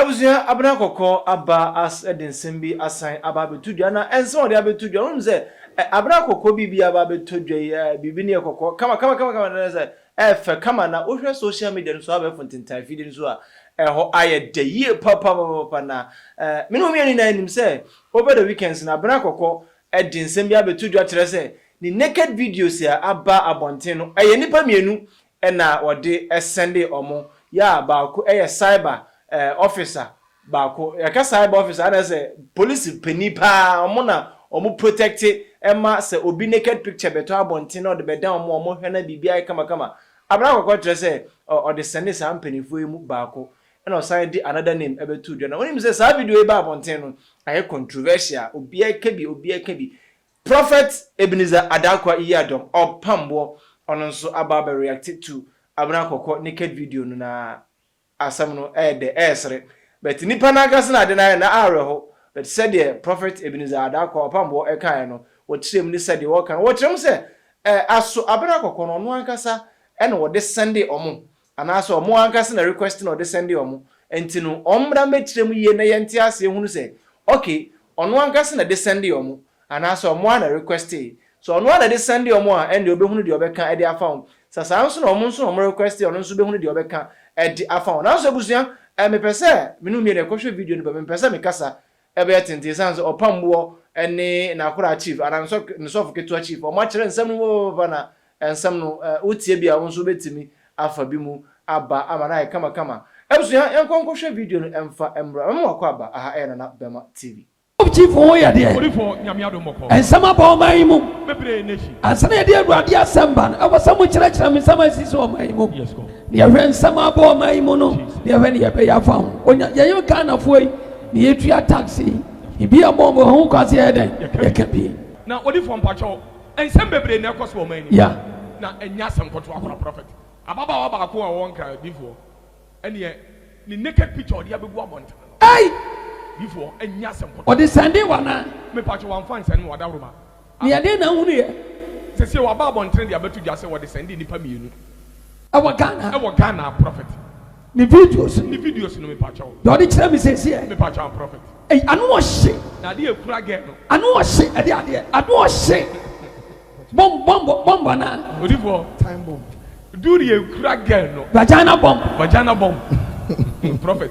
Abusua Abena Kɔkɔɔ aba as de nsɛm bi asan aba abɛto dwa na nsɛm a ɔde abɛto dwa no wonim sɛ ɛ Abena Kɔkɔɔ biribi aba abɛtɔ dwa yi ɛ biribi no yɛ kɔkɔɔ kama kama kama kama na sɛ ɛfɛ kama na wohwɛ social media no so abɛɛfo ntentan afidie no so a ɛhɔ ayɛ dɛ yie papapapapa na ɛ me ne wo mmienu nyinaa nim sɛ over the weekends no Abena Kɔkɔɔ de nsɛm bi abɛto dwa kyerɛ sɛ ne naked videos a aba abɔnten no ɛyɛ nnipa mmienu na wɔde sɛndee wɔn, yɛ a baako yɛ cyber officer, baako, yɛka cyber officer a na sɛ polisi panin pa ara, wɔn na wɔn protect ma sɛ obi naked picture bɛtɔ abɔnten na wɔde bɛda wɔn a wɔn hwɛ na biribi ayɛ kama kama. Abena Kɔkɔɔ kyerɛ sɛ ɔde sɛndee saa mpaninfoɔ yi mu baako na ɔsan de another name bɛtoo dwa no. Wonim sɛ saa video yi baa abɔnten no ayɛ controversial, obiara ka bi, obiara ka bi, Prophet Ebenezer Adankwa Yiadom of Pamboɔ ɔno nso aba abɛ reacte to Abena Kɔkɔ naked video no na asɛm no ɛyɛ dɛ ɛyɛ sere but nnipa no ankasa na ade no ayɛ na awerɛho but sɛdeɛ Prophet Ebenezer Adankwa Ɔpamboɔ ɛkaeɛ no wɔkyerɛɛ mu ne sɛdeɛ wɔka no wɔkyerɛ mu sɛ ɛɛ aso Abena Kɔkɔ no ɔno ankasa ɛna ɔde sɛndee ɔmo anaasɛ ɔmo ankasa na request na ɔde sɛnde ɔmo, nti no ɔmo mmra mmɛkyerɛ mu yie na yɛnte aseɛ hunu sɛ ok ɔno ankasa na ɛde sɛnde ɔmo anaasɛ ɔmo ara na requestee, sɛ ɔno ara na ɛde sɛnde ɔmo a ɛnneɛ ɔbɛhunu deɛ ɔbɛka de afa ho, sɛ saa nso na ɔmo nso na ɔmo requestee a ɔno nso bɛhunu deɛ ɔbɛka de afa ho. Nanso abusua, ɛɛ mepɛ sɛ me ne wo mmienu yɛkɔhwɛ video no ba mu, mepɛ sɛ mekasa Ɛbɛyɛ tenten esiane sɛ ɔpamboɔ ne n'akoraa chief anaa ne sɔfo ne sɔfo ketewa chief wɔn akyerɛ nsɛm no mu papaapa na nsɛm no wo tie bi a wo nso wo bɛtumi afa bi mu aba ama no ayɛ kama kama. Abusua yɛnkɔ nkɔ hwɛ video no ɛmfa mmra mɛma wakɔ aba aha ɛyɛ Nana Bɛma TV. Sɔfo chief ho yɛ deɛ nsɛm aba ɔman yi mu ansa na yɛde Awurade asɛm ba no ɛwɔ sɛ mo kyerɛkyerɛ me nsɛm a ɛsisi wɔ ɔman yi mu na yɛhwɛ nsɛm aba ɔman yi mu no na yɛhwɛ deɛ yɛbɛyɛ afa ho ɔnya yɛn Ghanafoɔ yi Ne yɛ tua tax yi. Ebi a bɔɔbo ɛho kwase yɛ dɛn yɛ ka bi. Na odifoɔ mpakyɛw nsɛm bebree na ɛkɔ so wɔ ɔman yi mu. Yeah. Na ɛnyɛ asɛm nkotoa koraa prophet. Ababaawa baako a ɔwɔ nkran odifoɔ ɛneɛ ne naked picture ɔde abɛgu abɔnten no. Ei! Difoɔ ɛnyɛ asɛm nkotoa. Ɔde sɛndee wo anaa? Me pakyɛw wamfa nsɛne me wadawroma Na ɛdeɛn na wohunuiɛ? Sesie waba abɔntene de abɛto dwa sɛ wɔde sɛndee nnipa mmienu ɛwɔ Ghana ɛwɔ Ghana prophet ne videos no ne videos no mepakyɛw deɛ ɔde kyerɛ me sesieɛ mepakyɛw a prophet ei ano ɔhye na adeɛ a ɛkura girl no ano ɔhye ɛde adeɛ ano ɔhye bomb bomb bomb anaa odifoɔ time bomb do deɛ ɛkura girl no vagina bomb vagina bomb prophet.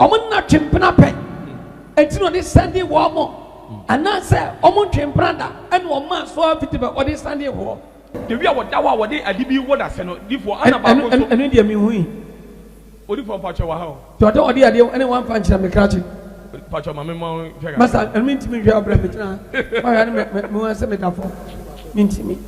Wɔnna twe mpena pɛ, enti na wɔde sɛnde wɔn, anaasɛ wɔntwe mpena da na wɔma so ara fiti bɛ wɔde sɛnde hoɔ. Dabi a wɔda hɔ a wɔde ade bi wɔ dasɛ no, difoɔ, ana baako nso. Ɛno deɛ menhui. Odifoɔ mpakyɛw wɔ ha o. Deɛ ɔde ɔde adeɛ wɔ ɛne wamfa nkyerɛ me krakye. Mpakyɛw ma me ma wo nhwɛ kakra. Masa ɛno mentumi nhwɛ wo brɛ me gyina ha. Mahwɛ a ne me me ho asɛ meda fam mentumi.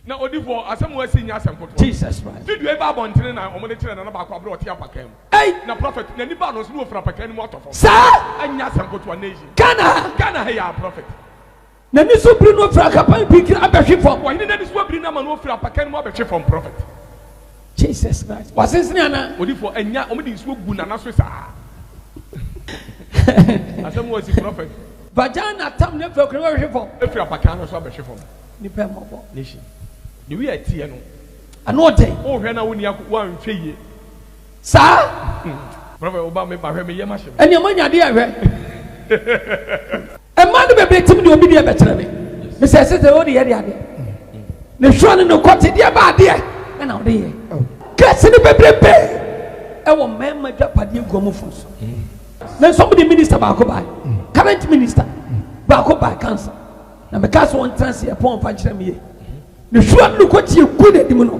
Na odifo asɛm wɔ si nyɛ asɛm foforɔ. Jesus Christ. Video yi baa abɔntene na wɔde kyerɛɛ nana baako aberɛ a ɔte apakaa mu. Ei! Na Prophet n'ani baa no nso na ɔfiri apakaa no mu atɔ fam. Saa! Ɛnyɛ asɛm ketewa nnɛ yi. Ghana ha. Ghana ha yi ara Prophet. N'ani so biri no firi akapan pikiri abɛhwe fam. Ɔhene n'ani so abiri no ama no ɔfiri apakaa no mu abɛhwe fam Prophet. Jesus Christ wasensene anaa. Odifoɔ ɛnya wɔn de nsuo gu nana so saa asɛm wɔ si prɔfɛt. Vagina tam ne fɛ kura bɛ hwe fam. Efiri abakan no so abɛ hwe fam. Nipa ɛmɔ bɔ. Nation. The way ɛteɛ no. Ano ɔden. O hwɛ na wo ni ako wa nhwɛ yie. Saa. Prɔfɛt wo ba me ba hwɛ me yɛ ma hye me. Ɛni ɛmɔ nya adeɛ hwɛ. Mmaa no bebree tim deɛ obi deɛ bɛkyerɛ me. Mesɛ ɛsɛ sɛ ɔde yɛ de adeɛ. Ne hwɛ ne ne kɔte deɛ ba adeɛ ɛna ɔde yɛ. Kɛse no bebrebe ɛwɔ mmarima dwapadeɛ nkuamufo so. Na nso wɔde minista baako bae. Current minista baako bae council. Na mekaa sɛ wɔntena ase ɛpɔn ɔfa nkyerɛ me yie. Ne hwɛ ne ne kɔte egu n'anim no.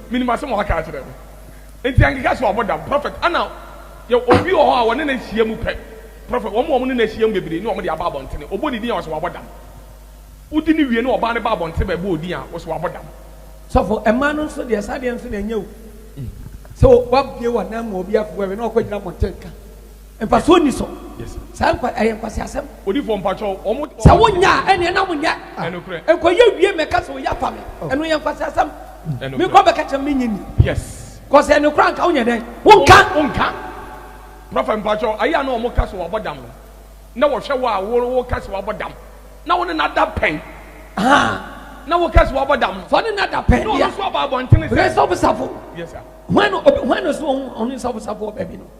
Menim asɛm a waka akyerɛ me. Nti ɛnkeka sɛ wabɔ dam. Prɔfɛt, ana yɛ obi wɔ hɔ a wɔne no ahyia mu pɛ? Prɔfɛt, wɔn a wɔne no ahyia mu bebree ne wɔn de aba abɔntene. Ɔbɔ ne din a, wɔse wabɔ dam. Wodi no wie na ɔbaa no ba abɔntene bɛbɔ wo din a, wɔse wabɔ dam. Sɔfo, mmaa no nso deɛ, saa adeɛ no nso na ɛnyɛ o. Sɛ woabue w'anan mu a obi afeware na wakɔgyina mmɔnten ka. Mfasoɔ nni so. Saa nkwa ɛyɛ nkwaseasɛm. Odifoɔ mpakyɛw wɔn mo. Sɛ wo nya a ɛneɛ na mo nyɛ. Ɛnokorɛ. Nkɔyɛ wie mɛka sɛ oyi afa me. Oh. Ɛno yɛ nkwaseasɛm. Ɛnokorɛ. Me kɔ bɛka kyerɛ me nye ni. Yes. Kɔsɛ ɛno kora nka wonyɛ dɛn. Wonka. Wonka. Prɔfɛ mpakyɛw ayi a na wɔn ka sɛ wabɔ dam no na wɔhwɛ wo a wo ka sɛ wabɔ dam na wo ne na da pɛn. Haa. Na wo ka sɛ wabɔ dam no. Sɛ ɔne na da pɛn deɛ. Na ɔno so aba abɔntene sɛ. Resafosafo. Yes sir. Hwan no hwan no so ɔno resafosafo wɔ baabi no.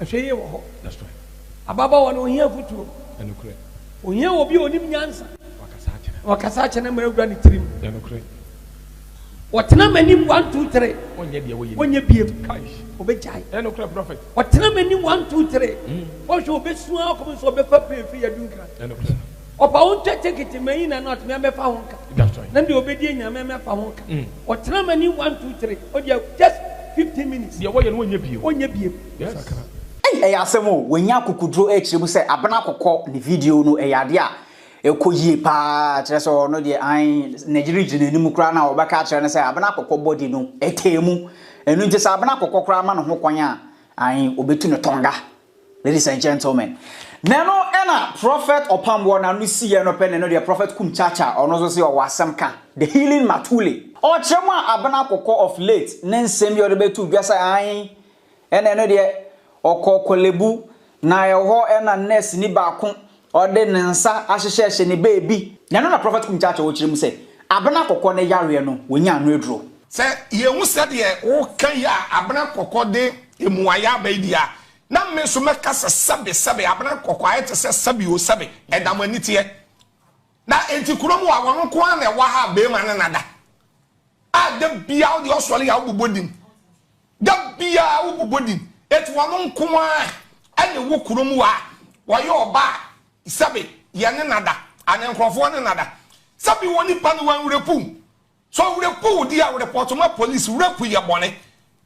Ahwɛyie wɔ hɔ. That's right. Ababaawa no, ɔhia afotuo. Ɛnokorɛ. Ɔhia obi a ɔnim nyansa. Wakasa akyerɛ no. Wakasa akyerɛ no ma awura ne tirim. Ɛnokorɛ. Ɔtena m'anim one two three. Ɔnyɛ deɛ wɔyɛ. Ɔnyɛ biem. Kaish. Ɔbɛgyae. Ɛnokorɛ prɔfɛt. Ɔtena m'anim one two three. Ɔhwɛ ɔbɛsua akɔm nso ɔbɛfa pay firi adunkra. Ɛnokorɛ. Ɔba wo ntwa tekete ma yi na na ɔtumi abɛfa ho nka na deɛ ɔbɛdi anya ma ɛmɛfa ho nka ɔtena ma ni one two three ɔdeɛ just fifteen minutes deɛ wɔyɛ no ɔnyɛ biem ɔnyɛ biem yes. Ei ɛyɛ asɛm o, wanya akokuduro ɛrekyerɛ mu sɛ Abena Kɔkɔ ne video no ɛyɛ adeɛ a ɛkɔ yie paa kyerɛ sɛ ɔno deɛ ae n'agyi regye n'anim koraa na ɔbɛka akyerɛ no sɛ Abena Kɔkɔ body no ɛtaa mu ɛno nti sɛ Abena Kɔkɔ koraa ma ne ho kwan a ae ɔbɛtu no tɔnga. Ladies and gentlemen, na ɛno na Prophet Ɔpamboɔ na no siiɛ no pɛ na ɛno deɛ Prophet Kum Chacha ɔno nso se ɔwɔ asɛm ka, The Healing Matuli. Ɔkyerɛ mu a Abena Kɔkɔ of late ne nsɛm bi a ɔde bɛto dwa sɛ ae ɛna ɛno deɛ ɔkɔɔ Korle Bu na ɛhɔ na nurse ni baako Ɔde ne nsa ahyehyɛhyɛ ne baabi. Na ɛno na Prɔfɛt Kum Kyaakye ɔrekyerɛ mu sɛ abena kɔkɔɔ no yareɛ no wɔnyaa ano aduro. Sɛ yɛhu sɛdeɛ woka yi a abena kɔkɔɔ de mmuaeɛ aba yi deɛ a, na me nso mɛka sɛ sɛbe, sɛbe, abena kɔkɔɔ ayɛ te sɛ sɛbe o, sɛbe, ɛda mo ani teɛ. Na enti kuro mu a wɔn nko ara na ɛwɔ ha a beema ne nada. a da biara wode ɔsɔre a wobobɔ din da biara wobobɔ din eti wɔn nko ara ɛne wo kurom wa wɔyɛ ɔba a sɛbi yɛ ne nada ana nkurɔfoɔ ne nada sɛbi wɔ nipa no wɔnwurepu so ɔwurepu di a report ma police wurapu yɛ bɔne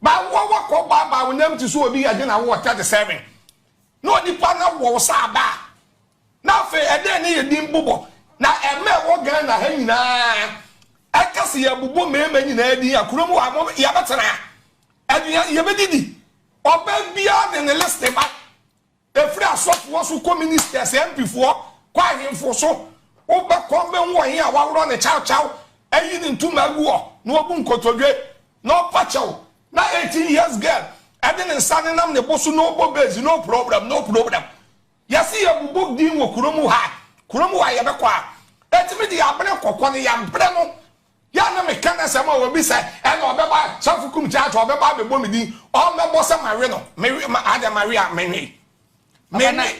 baawoɔ wakɔ baa baa wo nam ti so obi yɛ dwen awoɔ tɛte sɛven na onipa no wɔ wo saa baa Na afei ɛdɛn ne yɛ din bobɔ na ɛma ɛwɔ Ghana ha nyinaa ɛka se yɛbobɔ mmarima nyinaa din a kuro mu hɔ a yɛbɛtena aduan yɛbɛdidi ɔbaa biara de ne list ba ɛfiri asɔfoɔ so kɔ ministers MPfoɔ kɔ ahemfo so wobɛkɔ bɛhu ɔhen a waworɔ ne kyawkyaw ayi ne ntoma agu hɔ na wabu nkotodwe na ɔpa kyɛw na 18 years girl ɛde ne nsa nenam ne bo so no bɔ base no problem no problem Yɛse yɛbobɔ din wɔ kuro mu ha, kuro mu ha yɛbɛkɔ a, enti me de yɛabrɛ nkɔkɔ no, yɛabrɛ no. Yɛ a na meka no sɛ ma obi sɛ ɛna ɔbɛba Safo Kum Kyaakye ɔbɛba abɛbɔ me din, ɔmmɛbɔ sɛ mawe no, mewe, ma, adɛn mawe a, menwe. Papa, na, Menwe.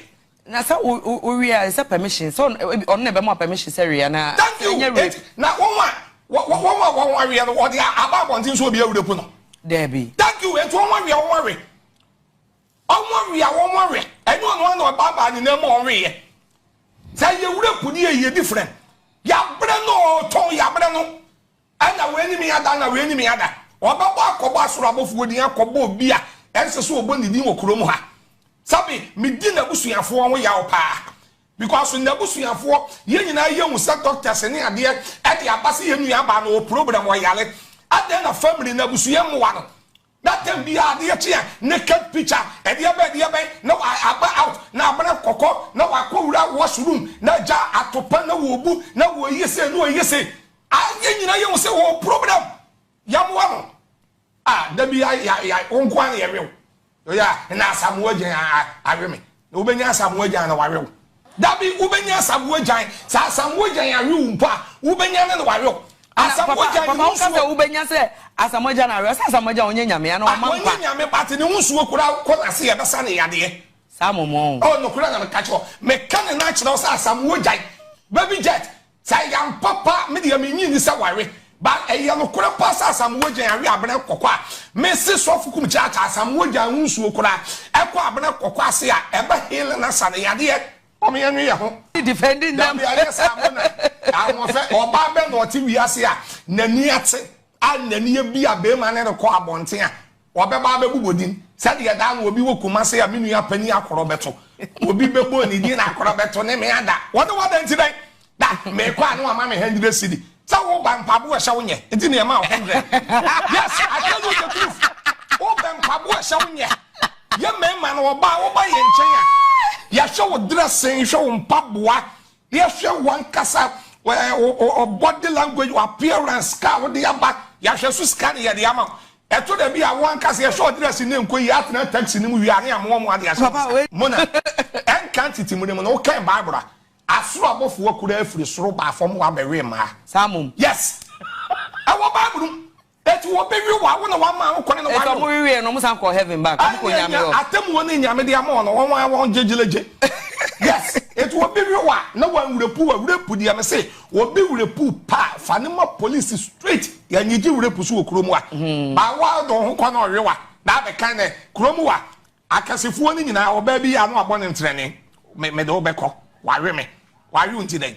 na sɛ wo, wo, wowe a, ɛsɛ permission, sɛ ɔno, ebi, ɔno na ɛbɛma wo permission sɛ we anaa, Thank you, ɛnyɛ enti, rape. na wɔn a, wɔ, wɔ, wɔn a wɔn ho aweɛ no, wɔde a, aba abɔnten sɛ obi awurapu no. Daabi. Thank you, enti wɔn aweɛ, wɔn awe. Wɔwe a wɔwe, ɛnyɛ ɔno ara na ɔbaabaa ne nan mu a ɔweeɛ. Sɛ yɛ wura puni yɛ yɛ different. Yɛabrɛ no ɔtɔn yɛabrɛ no. Ɛna wei ne me ada ɛna wei ne me ada. Ɔbɛbɔ akɔbɔ asoro abɔfoɔ din akɔbɔ obi a ɛnsɛ sɛ ɔbɔ ne din wɔ kurom ha. Sɛbe medi n'abusuafoɔ ho yaw paa. Because n'abusuafoɔ yɛn nyinaa yɛhu sɛ doctors ne adeɛ ɛde aba sɛ yɛn nuabaa no ɔwɔ problem ɔyare. Adɛn na family no abusua mmoa no. That time biaa adeɛ kye a naked picture ɛdeɛbɛn ɛdeɛbɛn na wa aba out na abena kɔkɔ na wa kɔ wura wash room na agya atopa na wɔ bu na wɔ yɛ sei na ɔyɛ sei ah yɛ nyina yɛ hu sɛ ɔwɔ problem yɛ moa no ah dabi ya ya ya wo nkoa na yɛ we wo yɛ na asamoa gya awe me Na wobɛnya asamoah agyan na wawe wo. Dabi, wobɛnya asamoah agyan. Sɛ asamoah agyan awe wo mpo a, wobɛnya no na wawe wo. Asamoah agyan ne ho nsuo. Papa, papa, woka sɛ wobɛnya sɛ asamoah agyan awe wo. Sɛ asamoah agyan ɔnyɛ nyame anaa ɔma nkwa. Ɔnyɛ nyame but ne ho nsuo koraa wokɔ n'ase a ɛbɛsa no yadeɛ. Saa mɔmɔ o. Oh, nokorɛ na meka kyerɛ wo. Meka ne nan kyerɛ wo sɛ asamoah agyan, baby jet. Sɛ ɛyɛ ampa pa me deɛ me nnye nni sɛ ware but ɛyɛ nokorɛ pa sɛ Asamoah Gyan awe Abena Kɔkɔ a me se sɔfo kum kyaakya Asamoah Gyan ho nsuo koraa ɛkɔ Abena Kɔkɔ ase a ɛba healing asa no yadeɛ mom yɛ nwe yɛ ho dabi anyɛ saa mo na ahoɔfɛ ɔbaa bɛ na ɔte wiase a nani ate a nani abia bɛɛma ne rekɔ abɔnten a Wɔbɛba abɛbobɔ din. Sɛdeɛ daa no obi wɔ Kumase a me nua panin akorɔ bɛto. Obi bɛbɔ ne din na akorɔ bɛto ne me ada. Wɔne wo ada nti dɛn? Da, mekɔ a na wama me hundred cedi. Sɛ woba, mpaboa a ɛhyɛ wo nyɛ nti na yɛmaa wo hundred. Yes, I tell you the truth. Wobɛ mpaboa a ɛhyɛ wo nyɛ. Yɛ mmarima no, wɔba a woba yɛn nkyɛn a, yɛhwɛ wo dressing, hwɛ wo mpaboa, Yɛhwɛ w'ankasa wo body language, w'appearance ka a wode aba, yɛahwɛ nso sika ne yɛde ama wo. Ɛtɔ da bi a wo ankasa yɛhwɛ wo dress ne nkɔ yie, atena taxi no mu wie a ne amoa moa de ahyɛ wo nsa. Mona, ɛnka ntete mu ne mu no wokan Bible a, asoro abɔfoɔ koraa firi soro baa fam hɔ abɛwee mmaa. Saa mmom. Yes. Ɛwɔ Bible mu. Eti wo be wi wa wo na wa ma wo kone no wa nyo. Eti ɔmo wi wiɛ no ɔmo san kɔɔ heaven back ɔmo kɔ Nyame hɔ. Atemuo ne Nyame de ama ɔno ɔno ara wɔn gye gyelagye yes. Eti wo be wi wa na wa nwura pu wa wura pu deɛ me se wo be wura pu paa fa no ma police straight ya nyi gye wura pu so wɔ kuro mu wa ba wa do ho kɔ na ɔwe wa na abɛ kan nɛ kuro mu wa akɛsefoɔ no nyinaa ɔbaa bi ya na wa bɔ no ntrɛne me me de wo bɛ kɔ wa we me wa we wo nti dɛn.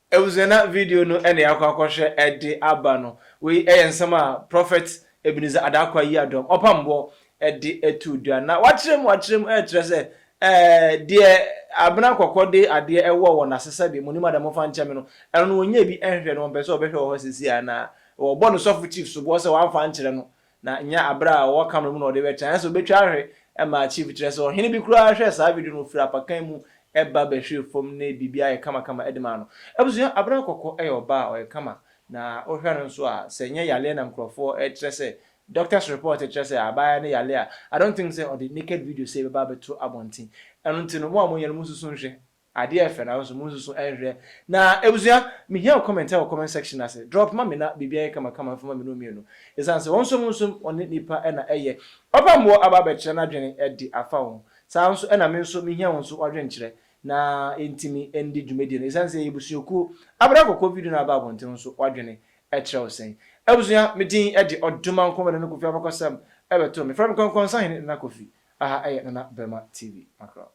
Abusua na video no na yɛakɔ akɔhwɛ de aba no. Wei yɛ nsɛm a Prophet Ebenezer Adaakwa Yiadom, Ɔpamboɔ, de too dwa. Na wakyerɛ mu akyerɛ mu rekyerɛ sɛ deɛ abena kɔkɔ de adeɛ ɛwɔ wɔn ase sɛbe monim ada momfa nkyɛ me no, ɛno no wɔnnya bi nhwɛ no, wɔmpɛ sɛ wɔbɛhwɛ wɔ hɔ seesei anaa? Wɔbɔ no sɔfo chief soboɔ sɛ wamfa ankyerɛ no Na nyɛ aberɛ a ɔwɔ camera mu na ɔde bɛkyɛ ayɛsɛ ɔbɛtwa ahwe ma chief kyerɛ sɛ ɔhene bi koraa hwɛɛ saa video no ɔfiri apakan mu ba bɛhwee fam ne biribiara yɛ kama kama de maa no abusua Abena Kɔkɔ yɛ ɔbaa a ɔyɛ kama na wohwɛ no nso a sɛ nyɛ yareɛ na nkorɔfoɔ kyerɛ sɛ doctors report kyerɛ sɛ abaayewa no yare a I don't think sɛ ɔde naked video sei bɛba abɛto abɔnten ɛno nti no mo a moyɛ no monsusu nhwɛ Adeɛ yɛ fɛ nanso mo nsusu nhwɛ na abusua me hia comment ɛwɔ comment section no ase drop ma me na biribi ayɛ kama kama mfama me no mmienu ɛsiane sɛ wɔn som nsom wɔne nipa na ɛyɛ ɔba mmoɔ aba abɛkyerɛ n'adwene ɛde afa wo ho saa nso ɛna me nso me hia wo nso w'adwenkyerɛ na yɛntumi ɛndi dwumadie no ɛsiane sɛ yɛyɛ abusuakuo abra kɔkɔɔ video no aba abɔnten wo nso w'adwene ɛkyerɛ wo sɛn abusua me din ɛde Ɔdomankoma Nana Kofi abakɔsɛm ɛbɛto me frɛ me Kɔnkɔnsahene Nana Kofi aha ɛyɛ Nana Bɛrima TV makorɔ.